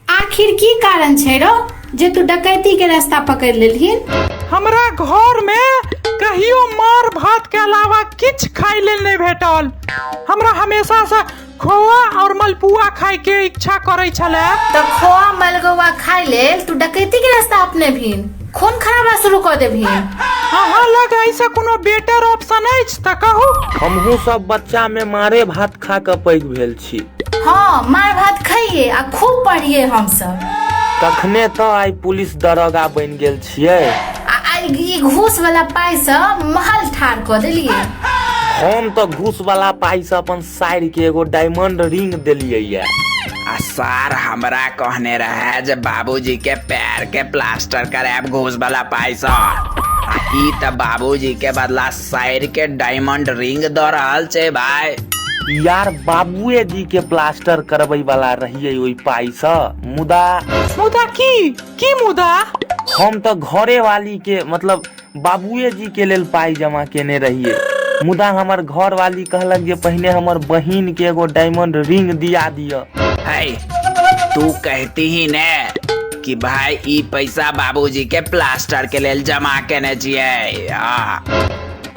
आखिर की कारण छै रो जे तू डकैती के रास्ता पकड़ लेलहिन हमरा घर में कहियो मार भात के अलावा किछ खाए लेल नहीं भेटल हमरा हमेशा से खोआ और मलपुआ खाए के इच्छा करे छले तो खोआ मलगोआ खाए लेल तू डकैती के रास्ता अपने भीन खून खराबा शुरू कर देबहिन अहाँ लग ऐसे कोनो बेटर ऑप्शन अछि त कहू हमहू सब बच्चा में मारे भात खा के पैघ भेल छी छी हाँ मार भात खाइए आ खूब पढ़िए हम सब तखने तो आई पुलिस दरोगा बन गेल छिए आ आई घूस वाला पाई से महल ठार कर दिलिए हम तो घूस वाला पाई से अपन साइड के एगो डायमंड रिंग दिलिए या आ सर हमरा कहने रहे जे बाबूजी के पैर के प्लास्टर करायब घूस वाला पाई से ई त बाबूजी के बदला साइड के डायमंड रिंग दऽ रहल छै भाय यार बाबुए जी के प्लास्टर करबै वाला रहिए ओहि पाई से मुदा मुदा की की मुदा हम तो घरे वाली के मतलब बाबुए जी के लेल पाई जमा केने रहिए मुदा हमर घर वाली कहलक जे पहिने हमर बहिन के एगो डायमंड रिंग दिया दिया है तू कहती ही ने कि भाई ई पैसा बाबूजी के प्लास्टर के लेल जमा केने छियै आ,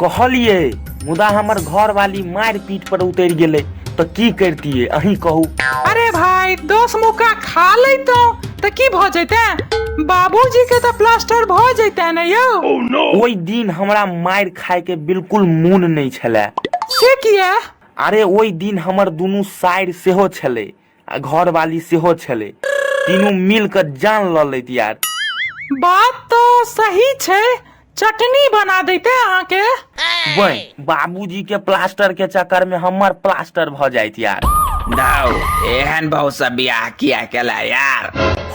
कहलिए मुदा हमर घर वाली मार पीट पर उतर गेले तो की करतिए अही कहू अरे भाई दस मुका खा ले तो तो की भ जैते बाबूजी के तो प्लास्टर भ जैते ने यौ ओहि दिन हमरा मार खाए के बिल्कुल मोन नहीं छले से किया अरे ओहि दिन हमर दुनू साइड सेहो छले आ घरवाली सेहो छलै तीनू मिल कऽ जान लऽ लैत यार बात तो सही छै चटनी बना देते अहाँ के वही बाबूजी के प्लास्टर के चक्कर में हमर प्लास्टर भ जाइत यार दाऊ एहन बहु सब बियाह किया केला यार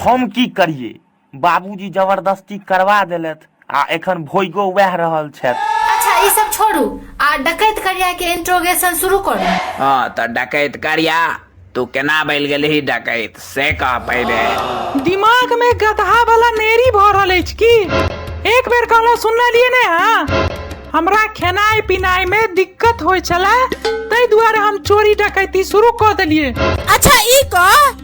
हम की करिए बाबूजी जबरदस्ती करबा देलथि आ एखन भोगो वएह रहल छथि अच्छा ई सब छोड़ू आ डकैत करिया के इंट्रोगेशन शुरू करू हाँ तो डकैत करिया तू केना बैल गेलही डकैत से कह पहिले दिमाग में गधा वाला नेरी भऽ रहल अछि की एक बेर कहलहुँ सुनलियै ने हाँ हमरा खेनाइ पिनाइ में दिक्कत होइ छलै ताहि दुआरे हम चोरी डकैती शुरू कऽ देलियै अच्छा ई कह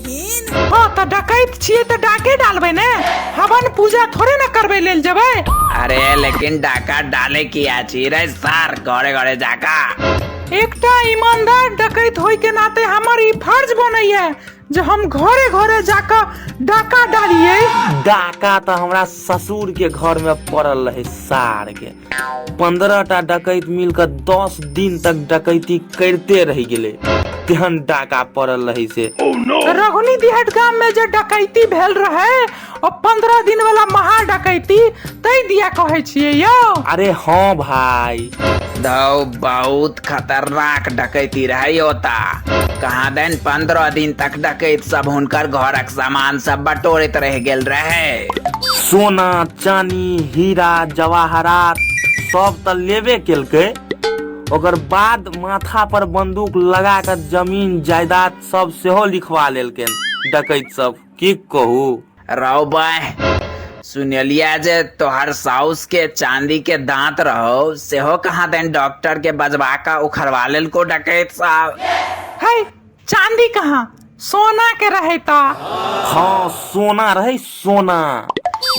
छथिन हाँ तऽ डकैत छियै तऽ डाके डालबै ने हवन पूजा थोड़े ने करबै लेल जेबै अरे लेकिन डाका डाले की आछी रे सार घरे घरे जाका एकटा ईमानदार डकैत होय के नाते हमर ई फर्ज बनैया जे हम घरे घरे जाकऽ डाका डालियै डाका तऽ हमरा ससुर के घर में पड़ल रहे सार के पंद्रह टा डकैत मिल कऽ दस दिन तक डकैती करते रह गेले तेहन डाका पड़ल रही से रघुनी दिहट गाम में जे डकैती भेल रहे ओ पंद्रह दिन वाला महा डकैती तै दिया कहे छियै यौ अरे हाँ भाई दौ बहुत खतरनाक डकैती रहे ओता कहाँ दिन पंद्रह दिन तक डकैत सब हुनकर घरक सामान सब बटोरैत रह गेल रहे सोना चानी हीरा जवाहरात सब तऽ लेबे केलकै ओकर बाद माथा पर बंदूक लगा कऽ जमीन जायदाद सब सेहो लिखवा लेलकै डकैत सब की कहू राव बाय सुनलिया जे तोहर साउस के चांदी के दांत रहो सेहो कहाँ दिन डॉक्टर के बजवा कऽ उखड़वा लेलको डकैत साहब है चाँदी कहाँ सोना के रहे ता हाँ सोना रहे सोना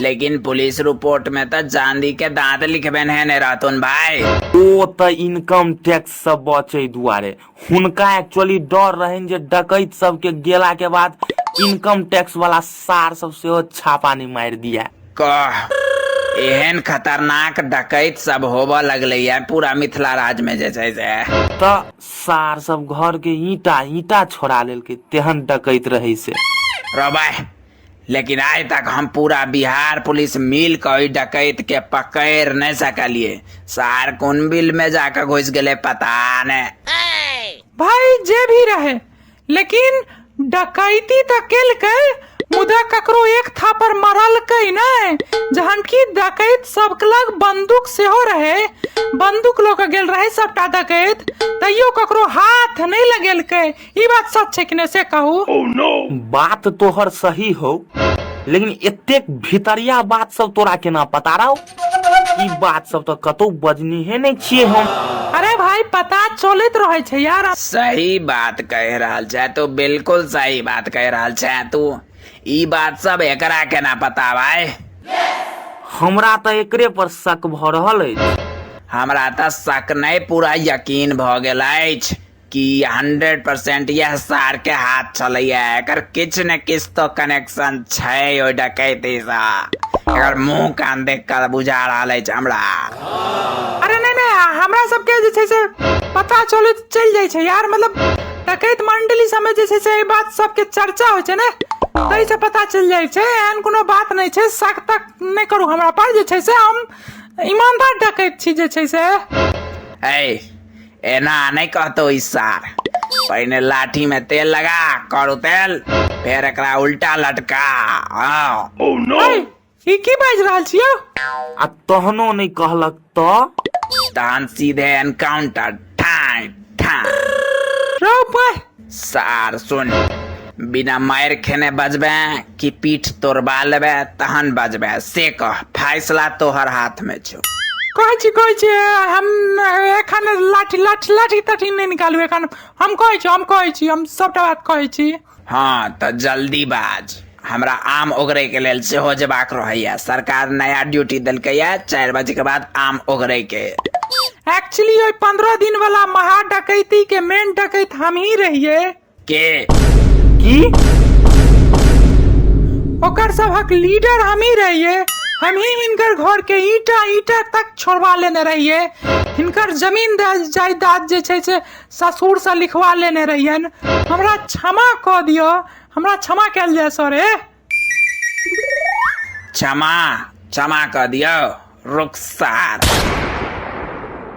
लेकिन पुलिस रिपोर्ट में तो चांदी के दांत लिखबे नहीं ने रातुन भाई ओ त इनकम टैक्स सब बचे दुआरे हुनका एक्चुअली डर रहन जे डकैत सब के गेला के बाद इनकम टैक्स वाला सार सब सेहो छापा नहीं मार दिया कह एहन खतरनाक डकैत सब होबऽ लगलै है पूरा मिथिला राज्य में जे छै से त सार सब घर के ईटा ईटा छोड़ा लेलकै तेहन डकैत रहै से रबै लेकिन आइ तक हम पूरा बिहार पुलिस मिल के ओहि डकैत के पकड़ नहीं सकलिए सार कोन बिल में जाकर घुस गेले पता ने भाई जे भी रहे लेकिन डकैती तऽ केलकै मुदा ककरो एक थापर मरलकै नहि जहन कि डकैत सबके लग बंदूक सेहो रहै बंदूक लऽ कऽ गेल रहै सबटा डकैत तैयो ककरो हाथ नहि लगेलकै ई बात सच छै कि नहि से कहू बात तोहर सही हौ लेकिन एतेक भितरिया बात सब तोरा केना पता रहौ ई बात सब तऽ कतौ बजनीहे नहि छियै हम अरे भाई पता चलैत रहै छै यार सही बात कह रहल छै तू बिल्कुल सही बात कह रहल छै तू ई बात सब एकरा केना पता भाई हमरा तऽ एकरे पर शक भऽ रहल अछि हमरा तऽ शक नहि पूरा यकीन भऽ गेल अछि कि हंड्रेड परसेंट यह सार के हाथ छलैया एकर किछ ने किछ तो कनेक्शन छै ओ डकैती सा एकर मुंह कान देख कर बुझा रहल अछि हमरा अरे नहीं नहीं आ, हमरा सबके जे छै से पता चलैत चलि जाइ छै यार मतलब डकैत मंडली सबमे जे छै से एहि बात सबके चर्चा होइ छै ने ताहि से पता चलि जाइ छै एहन कोनो बात नहि छै शक तक नहि करू हमरा पर जे छै से हम ईमानदार डकैत छी जे छै से ऐ एना नहि कहतो ई सार पहिने लाठी में तेल लगा करू तेल फिर एकरा उल्टा लटका हाँ अरे, ई की बाजि रहल छियौ आ तहनो नहि कहलक तऽ तहन सीधे एनकाउंटर ठाई ठाई रौ पाय सार सुन बिना मारि खेने बजबे कि पीठ तोड़बा लेबे तहन बजबे से कह फैसला तोहर हाथ में छो कहै छी कहै छी हम एखन लाठी लाठी लाठी ताठी नहि निकालू एखन हम कहै छी हम कहै छी हम सभटा बात कहै छी हाँ तो जल्दी बाज हमरा आम ओगरैके लेल सेहो जेबाक रहैए सरकार नया ड्यूटी देलकैए चारि बजेके बाद आम ओगरैके एक्चुअली ओहि पंद्रह दिन वाला महा डकैती के मेन डकैत हम ही रहिए के की ओकर सबहक लीडर हम ही रहिए हम ही हिनकर घर के ईटा ईटा तक छोड़वा लेने रहिए हिनकर जमीन द- जायदाद जे छै से ससुर से लिखवा लेने रहियन हमरा क्षमा कऽ दिअ हमरा क्षमा कयल जाय सर ए क्षमा क्षमा कऽ दियौ रुखसार